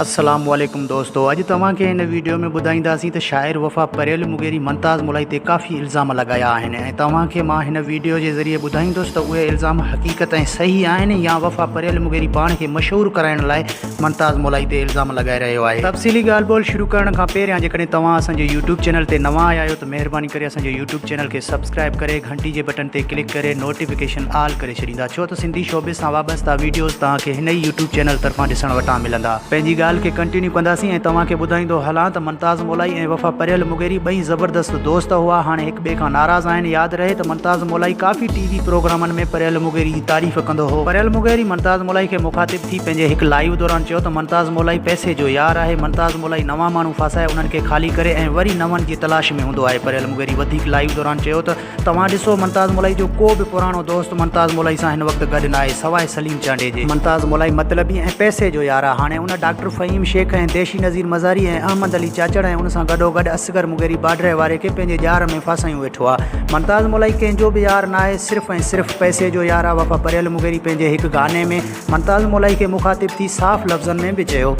السلام عليڪم دوستو اڄ توهان کي هن ويڊيو ۾ ٻڌائينداسين ته شاعر وفا پريل مغيري ممتاز ملائي تي ڪافي الزام لڳايا آهن ۽ توهان کي مان هن ويڊيو جي ذريعي ٻڌائيندس ته اهي الزام حقيقت ۽ صحيح آهن يا وفا پريل مغيري پاڻ کي مشهور ڪرائڻ لاء ممتاز ملائي تي الزام لڳائي رهيو آهي تفصيلي ڳالهه ٻولهه شروع ڪرڻ کان پهريان جيڪڏهن توهان اسان جي يوٽيوب چينل تي نوان آيا آهيو مهرباني ڪري اسان جي يوٽيوب چينل کي سبسڪرائب ڪري گهنٽي جي بٽن تي ڪلڪ ڪري نوٽيفڪيشن آل ڪري ڇڏيندا ڇو ته سنڌي شعبي سان وابسته ويڊيوز توهان کي هن ئي يوٽيوب چينل طرفان ڏسڻ وٽان ملندا پنهنجي ڳالهه کي ڪنٽينيو ڪنداسين ۽ توهان کي ٻڌائيندو هلان ته ممتاز مولائي ۽ وفا پريل مغيري ٻئي زبردست دوست هئا هاڻي هڪ ٻئي کان ناراض آهن ياد رهي ته ممتاز مولائي ڪافي ٽي وي پروگرامن ۾ پريل مغيري جي تعريف ڪندو هو پريل مغيري ممتاز مولائي کي مخاطب ٿي پنهنجي هڪ لائيو دوران چيو ته ممتاز مولائي پئسي جو يار آهي ممتاز الاهي نوان ماڻهو ڦاسائي انهن کي خالي ڪري ۽ وري نون جي تلاش ۾ هوندو آهي پريل مغيري وڌيڪ لائيو دوران چيو ته توهان ڏسو منتاز مولائي جو ڪو به پراڻو دوست منتاز مولائي سان هن وقت گڏ ناهي سواء سليم چانڊي جي منتاز مولائي مطلبي ۽ پئسي جو يار آهي هاڻي ان ڊاڪٽر فهيم شيخ ۽ ديشي نظير مزاري ۽ احمد علي چاچڙ ۽ ان سان گڏوگڏ اصغر مغيري باڊري واري کي پنهنجي ڄار ۾ ڦاسايون ويٺو آهي منتاز مولائي ڪنهن جو به يار ناهي صرف ۽ صرف پئسي جو يار آهي وفا پريل مغيري پنهنجي هڪ گاني ۾ ممتاز مولائي کي مخاطب ٿي صاف لفظن ۾ به چيو.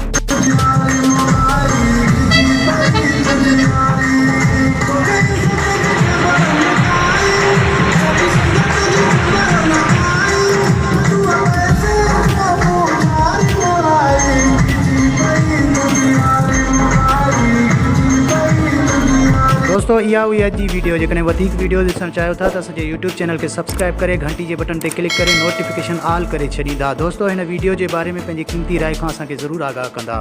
دوستو اها هئي اڄ جي ويڊيو جيڪڏهن وڌيڪ ويڊيوز ڏسڻ چاهيو ٿا ته اسان جي يوٽيوب چينل کي سبسڪرائيب ڪري گهنٽي گهنٽي جي بٽن تي ڪلڪ ڪري نوٽيفڪيشن آل ڪري ڇڏيندا دوستو هن ويڊيو جي باري ۾ پنهنجي قيمتي راء کان اسان کي ضرور آگاهه ڪندا.